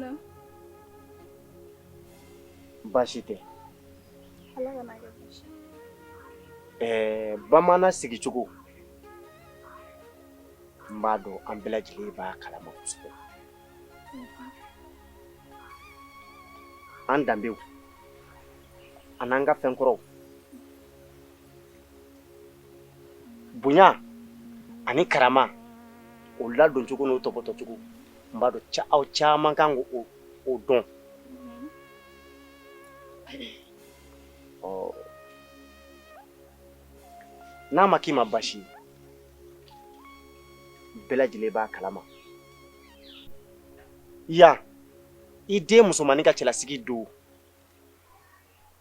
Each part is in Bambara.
na baasi tɛ ala kana kɛ baasi ɛɛ bamanan sigicogo n b'a dɔn an bɛɛ lajɛlen b'a kalama kosɛbɛ an danbew an'an ka fɛn kɔrɔw bonya ani karama o ladon cogo n'o tɔpɔtɔ cogo n b'a dɔn aw caman kan k'o dɔn ɔ n'a ma k'i ma baasi ye bɛɛ lajɛlen b'a kalama yan i den musomannin ka cɛlasigi don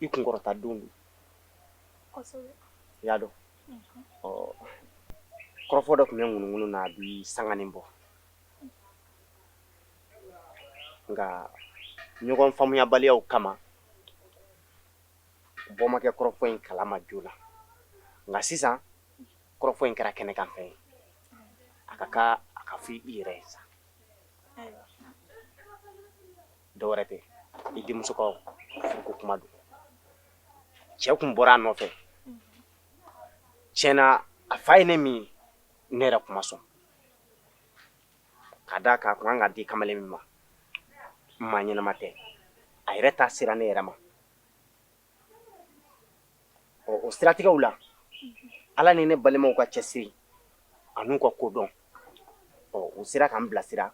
i kunkɔrɔta don don i y'a dɔn kɔrɔfɔ dɔ tun bɛ ŋunuŋunu na a bi sanganin bɔ nka ɲɔgɔn faamuyabaliyaw kama bɔ ma kɛ kɔrɔfɔ in kalama joona nka sisan kɔrɔfɔ in kɛra kɛnɛkanfɛn ye a ka kan a ka fɔ i yɛrɛ ye sa dɔwɛrɛ tɛ i denmuso ka furuko kuma don cɛ tun bɔra a nɔfɛ tiɲɛ na a fa ye ne min ye ne yɛrɛ tun ma sɔn ka d'a kan a tun kan ka di kamalen min ma maa ɲɛnama tɛ a yɛrɛ ta sera ne yɛrɛ ma ɔ o siratigɛw la ala ni ne balimaw ka cɛsiri an'u ka kodɔn ɔ u sera k'an bilasira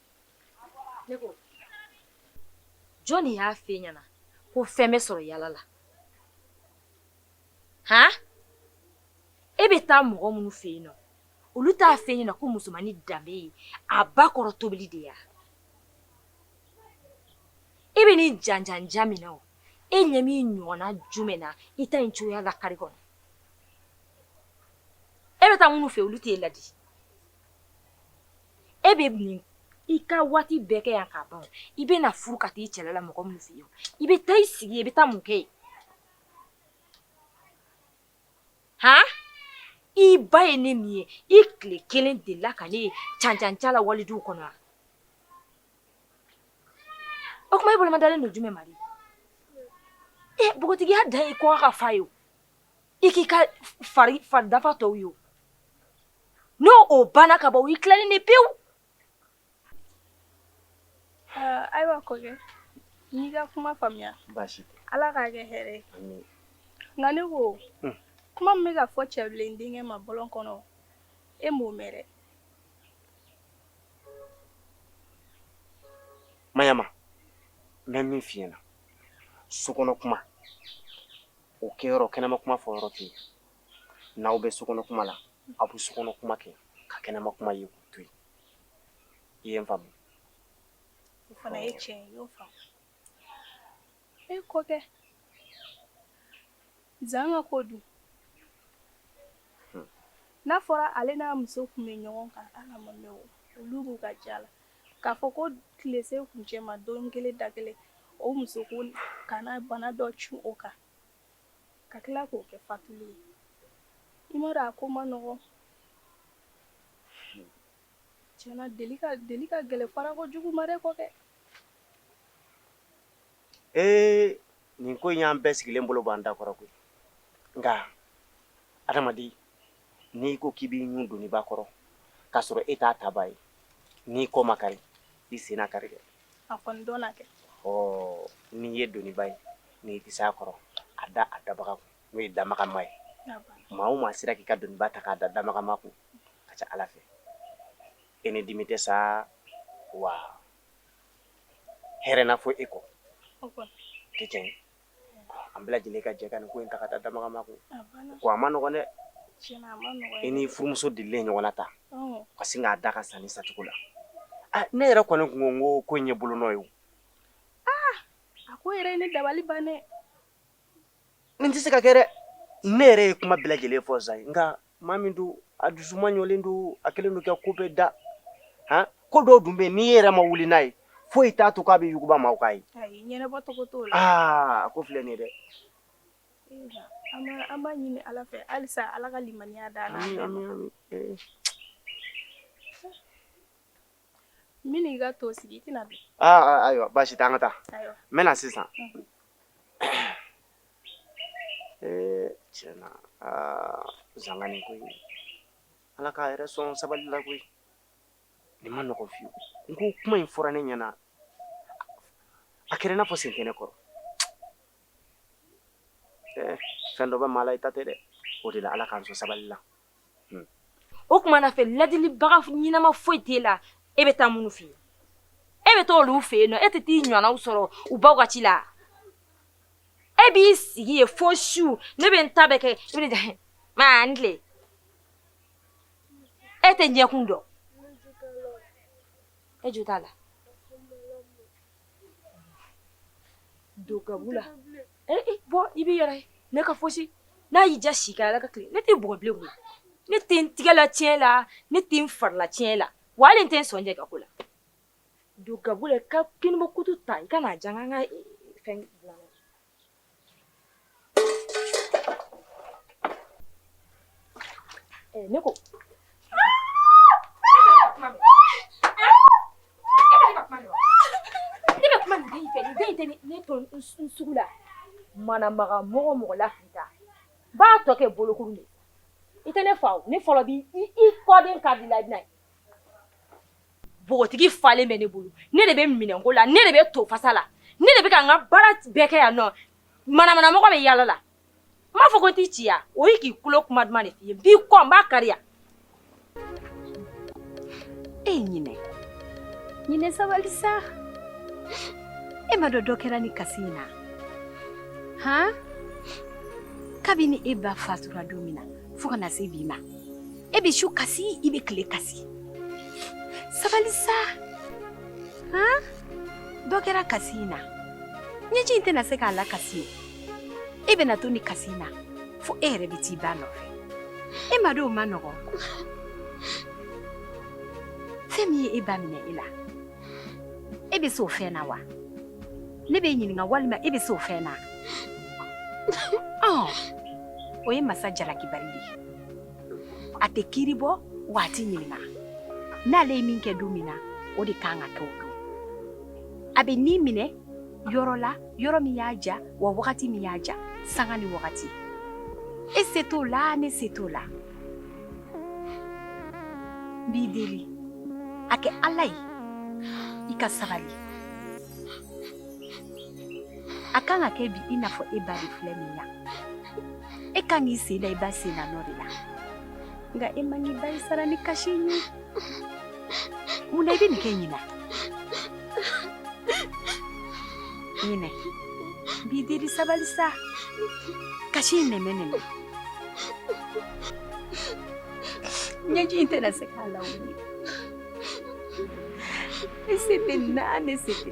Ne ko jɔn de y'a f'e ɲɛna ko fɛn bɛ sɔrɔ yaala la han e bɛ taa mɔgɔ minnu fɛ yen nɔ olu t'a f'e ɲɛna ko musomannin danbe ye a ba kɔrɔ tobili de ye e bɛ nin janjanjan min na o e ɲɛ b'i ɲɔgɔnna jumɛn na i ta in cogoya la kari kɔnɔ e bɛ taa minnu fɛ olu tɛ e ladi e bɛ n'i ka waati bɛɛ kɛ yan ka ban i bɛ na furu ka taa i cɛla la mɔgɔ minnu fɛ yen i bɛ taa i sigi i bɛ taa mun kɛ yen han i ba ye ne min ye i tile kelen delila ka ne ye cancanca la waliduw kɔnɔ wa o tuma e bolomadalen don jumɛn ma de ee npogotigiya dan ye kɔgɔ ka fa ye o i k'i ka fari fari dafa tɔw ye n'o o banna ka ban i tilalen ni pewu ayiwa kɔkɛ n y'i ka kuma faamuya baasi tɛ ala k'a kɛ hɛrɛ ye nka ne ko hmm. kuma min bɛ ka fɔ cɛbilen denkɛ ma bɔlɔn kɔnɔ e m'o mɛn dɛ mayama n bɛ min f'i ɲɛna sokɔnɔ kuma o kɛ yɔrɔ kɛnɛma kuma fɔ yɔrɔ tɛ n'aw bɛ sokɔnɔ kuma la aw bɛ sokɔnɔ kuma kɛ ka kɛnɛma kuma in to yen i ye n faamu o fana ye tiɲɛ ye e kɔkɛ zan ka ko dun hmm. n'a fɔra ale n'a muso tun bɛ ɲɔgɔn kan ala ma mɛn olu b'u ka ja la k'a fɔ ko tile se kuncɛ ma don kelen da kelen o muso ka na bana dɔ cun o kan ka tila k'o kɛ fatuli ye i ma a ko man nɔgɔ tiɲɛna deli ka deli ka gɛlɛn fara ko jugu ma dɛ kɔkɛ ee nin ko in y'an bɛɛ sigilen bolo b'an dakɔrɔ koyi nka adamaden n'i ko k'i b'i ɲun doniba kɔrɔ k'a sɔrɔ e t'a tabaa ye n'i kɔ ma kari i sen na kari dɛ a kɔni dɔnna kɛ ɔɔ n'i ye doniba ye n'i tɛ se a kɔrɔ a da a dabaga kun n'o ye damagama ye maa o maa sera k'i ka doniba ta k'a da damagama kun ka ca ala fɛ e ni dimi tɛ sa wa hɛrɛ na fɔ e kɔ tɛ tiɲɛ an bɛɛ lajɛlen ka jɛ ka nin ko in ta k'a da damagama kun, a banna, ko a man nɔgɔn dɛ, tiɲɛna a man nɔgɔn, i n'i furumuso delilen ɲɔgɔn na tan, ɔnhɔn, ka sin k'a da ka sa nin sacogo la, aa ne yɛrɛ kɔni tun ko n ko ko in ye bolonɔ ye o, aa a ko yɛrɛ ye ne dabali ban dɛ, nin tɛ se ka kɛ dɛ, ne yɛrɛ ye kuma bɛɛ lajɛlen fɔ zan ye nka Maa min don a dusu ɲɔgɔnlen don a kelen don kɛ ko bɛɛ da ko dɔ dun bɛ n'i yɛrɛ ma wuli n'a ye fo i t'a to k'a b'i yuguba ma ye ko filɛ nin dɛ ala to sigi ayiwa baasi an ka taa n sisan Ee tiɲɛna aa zan ka nin ko in ala k'a yɛrɛ sɔn sabali la koyi nin man nɔgɔ fewu n ko kuma in fɔra ne ɲɛna a kɛra n'a fɔ sen kɛnɛ kɔrɔ fɛn dɔ bɛ maa la i ta tɛ dɛ o de la ala k'an sɔn sabali la Hmm. O kuma na fɛ ladilibaga ɲinama foyi t'e la e bɛ taa minnu fɛ yen e bɛ taa olu fɛ yen nɔ e tɛ t'i ɲɔgɔnnaw sɔrɔ u baw ka ci la e b'i sigi yen fo su ne bɛ n ta bɛɛ kɛ e bɛ taa maa n tile e tɛ ɲɛkun dɔn e jo t'a la. Dogabula. Ee i bɔ i bɛ yɛrɛ ne ka fosi n'a y'i ja si ka ala ka tile ne t'i bugɔ bilen koyi ne tɛ n tɛgɛla tiɲɛ la ne tɛ n farila tiɲɛ la wa ale tɛ sɔn ka ko la don ka ka kini kutu ta i ka'a jan an ka fɛn Eh, ne ko ne to n sugu la manamana mɔgɔ mɔgɔ la k'i ta n b'a tɔ kɛ bolokuru de i tɛ ne fa o ne fɔlɔ bi i kɔden ka di la i bɛna ye bogotigi falen bɛ ne bolo ne de bɛ minɛnko la ne de bɛ to fasa la ne de bɛ ka n ka baara bɛɛ kɛ yan nɔ manamanamɔgɔ bɛ yaala la n b'a fɔ ko t'i ci ya o y'i k'i kulo kuma duman de f'i ye n b'i kɔ n b'a kari yan e ye ɲinɛ ɲinɛ sabali sa e m'a dɔn dɔ kɛra nin kasi in na han kabini e ba fatura don min na fo ka na se bi ma e bɛ su kasi i bɛ tile kasi sabali sa han dɔ kɛra kasi in na ɲɛji in tɛna se k'a lakisi o e bɛna to nin kasi in na fo e yɛrɛ bɛ t'i ba nɔfɛ e ma dɔw ma nɔgɔn fɛn min ye e ba minɛ e la e bɛ s'o fɛn na wa ne b'i ɲininka walima e bɛ s'o fɛn na o ye masa jalakibali de ye a tɛ kiiri bɔ wa a tɛ ɲininka n'ale ye min kɛ don min na o de kan ka kɛ o don a bɛ ni minɛ yɔrɔ la yɔrɔ min y'a ja wa wagati min y'a ja sanga ni wagati e se t'o la ne se t'o la n b'i deli a kɛ ala ye i ka sabali a kan ka kɛ bi i n'a fɔ e ba de filɛ nin na e kan k'i sen da i ba sennanɔ de la nka e man k'i ba ye sara ni kasi ye Mun na i bɛ nin kɛ ɲinɛ ɲinɛ n b'i deli sabali sa kasi in nɛmɛ nɛmɛ ɲɛji in tɛna se k'a lawuli ne se tɛ na ne se tɛ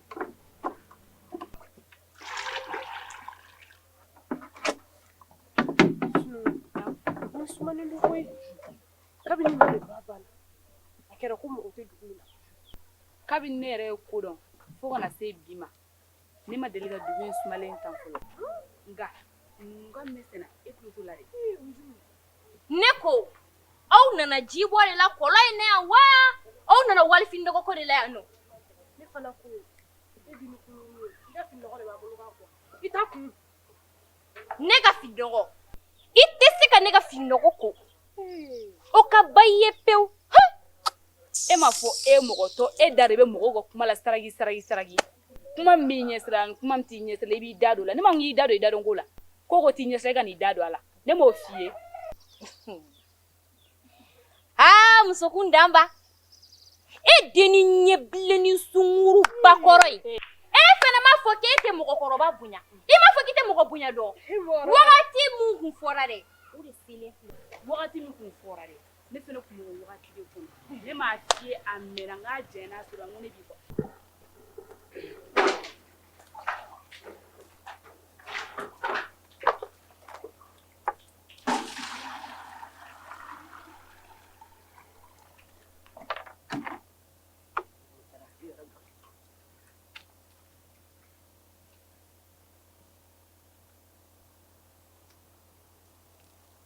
sumalen don koyi kabini ne ba banna a kɛra ko mɔgɔ tɛ dugu in na kabini ne yɛrɛ ye ko dɔn fo ka na se bi ma ne ma deli ka dugu in sumalen tan fɔlɔ nka nka mɛsɛnna e tulo t'o la dɛ ne ko aw nana ji bɔ de la kɔlɔn in na yan wa aw nana wali fini nɔgɔ ko de la yan ne ka fini nɔgɔ i tɛ se ka ne ka fini nɔgɔ ko o ka ba i ye pewu e m'a fɔ e mɔgɔ tɔ e da de bɛ mɔgɔ ka kuma la saraka saraka saraka kuma b'i ɲɛ sira kuma t'i ɲɛ sira la i b'i da don a la ne ma y'i da don i da ko la ko ko t'i ɲɛ sira i kan'i da don a la ne m'o f'i ye aa muso kuntanba e dennin ɲɛ bilen ni sunguruba kɔrɔ ye e fana m'a fɔ k'e tɛ mɔgɔkɔrɔba bonya i m'a fɔ k'i tɛ mɔgɔ bonya dɔn wagati min kun fɔra dɛ o de selen filɛ wagati min kun fɔra dɛ ne fana tun b'o wagati de kɔnɔ ne m'a f'i ye a mɛnna n k'a janyana a sera n ko ne b'i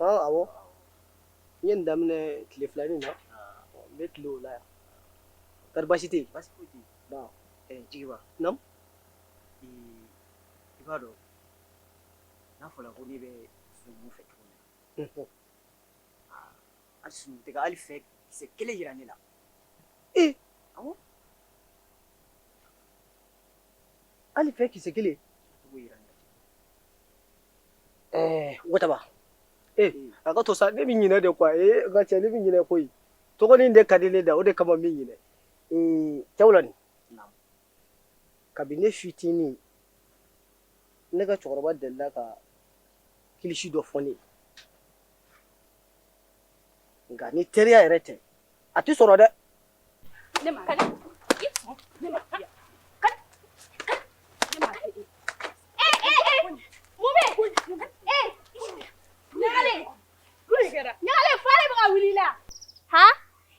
A n y'a daminɛ tile fila min na n bɛ tile o la yan kari baasi tɛ jigiba i b'a dɔn n'a fɔra ko ne bɛ fɛn fɛ tuguni na a sɔn tɛ ka hali fɛn kisɛ kelen jira ne la Hali fɛn kisɛ kelen waba ee a ka to sa ne bɛ ɲinɛ de kuwa ka cɛ ne bɛ ɲinɛ koyi dɔgɔnin de ka di ne da o de kama min ɲini cɛwla nin kabini ne fitinin ne ka cɛkɔrɔba delila ka kilisi dɔ fɔ ne ye nka ni teriya yɛrɛ tɛ a tɛ sɔrɔ dɛ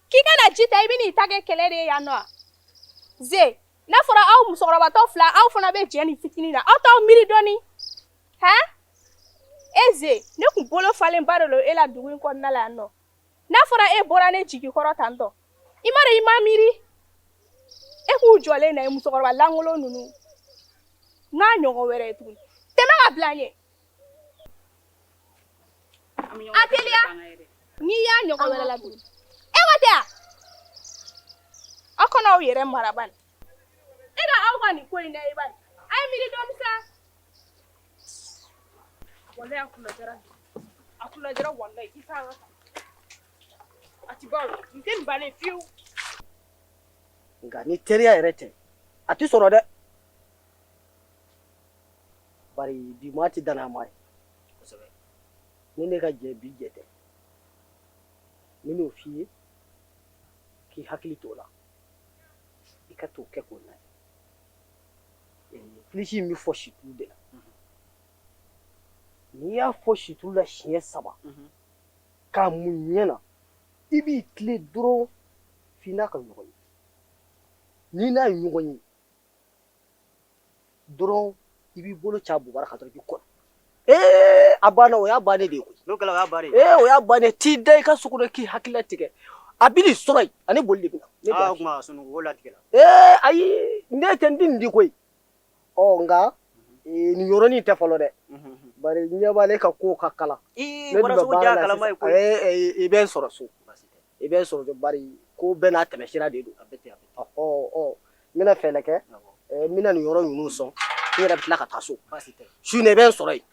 k'i kana ji ta i bɛ ta kɛ kɛlɛ de yan nɔ n'a fɔra aw musokɔrɔbatɔ fila aw fana bɛ jɛ ni fitinin na aw t'aw miiri dɔɔni e ne tun bolo falenba de don e la dugu in kɔnɔna la yan nɔ n'a fɔra e bɔra ne jigi kɔrɔ tan tɔ i ma i ma miiri e k'u jɔlen na ye musokɔrɔba lankolon ninnu n'a ɲɔgɔn wɛrɛ ye tuguni tɛmɛ ka bila ɲɛ a teliya n'i y'a ɲɔgɔn wɛrɛ la tuguni e ma tɛ aw kana aw yɛrɛ maraba e ka aw ka nin ko in da i bali a ye miiri dɔɔni sa Walayi a kunna diyara dɛ. A kunna diyara walayi. I k'an ka taa. A tɛ ban o. Nin tɛ nin bannen ye fiyewu. Nka ni teriya yɛrɛ tɛ, a tɛ sɔrɔ dɛ. Bari bi maa tɛ danaya maa ye. Kosɛbɛ. Ni ne ka jɛ bi jɛ tɛ, n bɛn'o f'i ye, k'i hakili t'o la, i ka t'o kɛ k'o lajɛ. Kilisi in bɛ fɔ situlu de la n'i y'a fɔ situlu la siɲɛ saba k'a mun ɲɛ na i b'i tilen dɔrɔn fo i n'a ka ɲɔgɔn ye n'i n'a ye ɲɔgɔn ye dɔrɔn i b'i bolo ca bug ka i kɔnɔ ee a banna o y'a bannen de ye koyi n'o kɛra o y'a bannen ye ee o y'a bannen t'i da i ka sunɔgɔ k'i hakili latigɛ a bɛ nin sɔrɔ yen ani boli de bɛ na ne aa o tuma sunɔgɔ o latigɛ la ee ayi ne tɛ n di nin di koyi ɔ nka nin yɔrɔnin tɛ fɔlɔ dɛ bari ɲɛ b'ale ka kow ka kalan ne dun bɛ baara la sisan i bɛ n sɔrɔ so I bɛ n sɔrɔ kɛ bari ko bɛɛ n'a tɛmɛ sira de don a bɛ ten a bɛ ten ɔ ɔ n bɛna fɛɛrɛ kɛ n bɛna nin yɔrɔ ninnu sɔn n yɛrɛ bɛ tila ka taa so baasi tɛ su in na i bɛ n sɔrɔ yen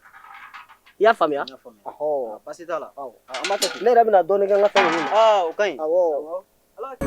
i y'a faamuya n y'a faamuya ɔhɔ baasi t'a la awɔ an b'a kɛ ten ne yɛrɛ bɛna dɔɔnin kɛ n ka fɛn ninnu na aa o ka ɲi awɔ ala ka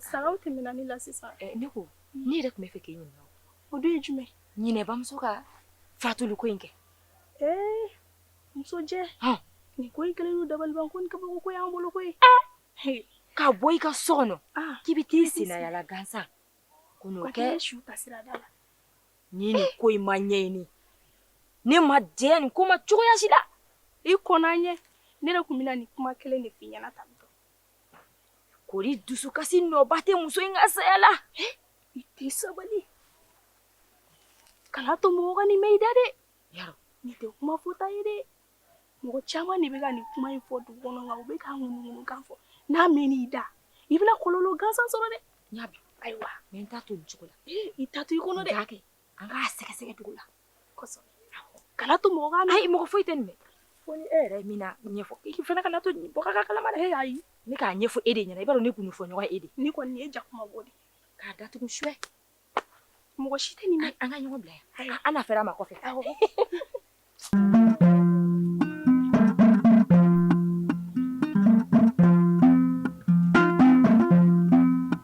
Saga tɛmɛna ne la sisan ne ko ne yɛrɛ tun b'a fɛ k'i ɲininka o dun ye jumɛn ye ne bamuso ka fatuli ko in kɛ ee musojɛ nin ko i kelen dabali ko kabako y'an bolo koyi ka bɔ i ka so kɔnɔ k'i bɛ taa sennayaala gansan ko kɛ su ka sira da la ni nin ko in ma ɲɛɲini ne ma diɲɛ nin ko ma cogoya si la i kɔn ɲɛ ne de tun bɛ na nin kuma kelen de fɔ i ɲɛna ta Kori dusukasi nɔba tɛ muso in ka saya la i tɛ sabali kana to mɔgɔ ka nin mɛn i da dɛ nin tɛ kuma fɔta ye dɛ mɔgɔ caman de bɛ ka nin kuma in fɔ dugu kɔnɔ kan u bɛ ka ŋunuŋunukan fɔ n'a mɛnna i da i bɛna kɔlɔlɔ gansan sɔrɔ dɛ ayiwa n to cogo la i ta to i kɔnɔ de' kɛ an k'a sɛgɛsɛgɛ dugu la kosɛbɛ kana to mɔgɔ ka ayi mɔgɔ foyi tɛ nin mɛn fo ni e yɛrɛ min ɲɛfɔ i fana kana to bɔ ka kalama dɛ y'a ye ne k'a ɲɛfɔ e de ɲɛna i b'a dɔn ne gundo fɔ ɲɔgɔn e de nin kɔni ye jakuma bo de k'a datugu cɛ mɔgɔ si tɛ nin mɛn an ka ɲɔgɔn bila yan an na fɛrɛ a ma kɔfɛ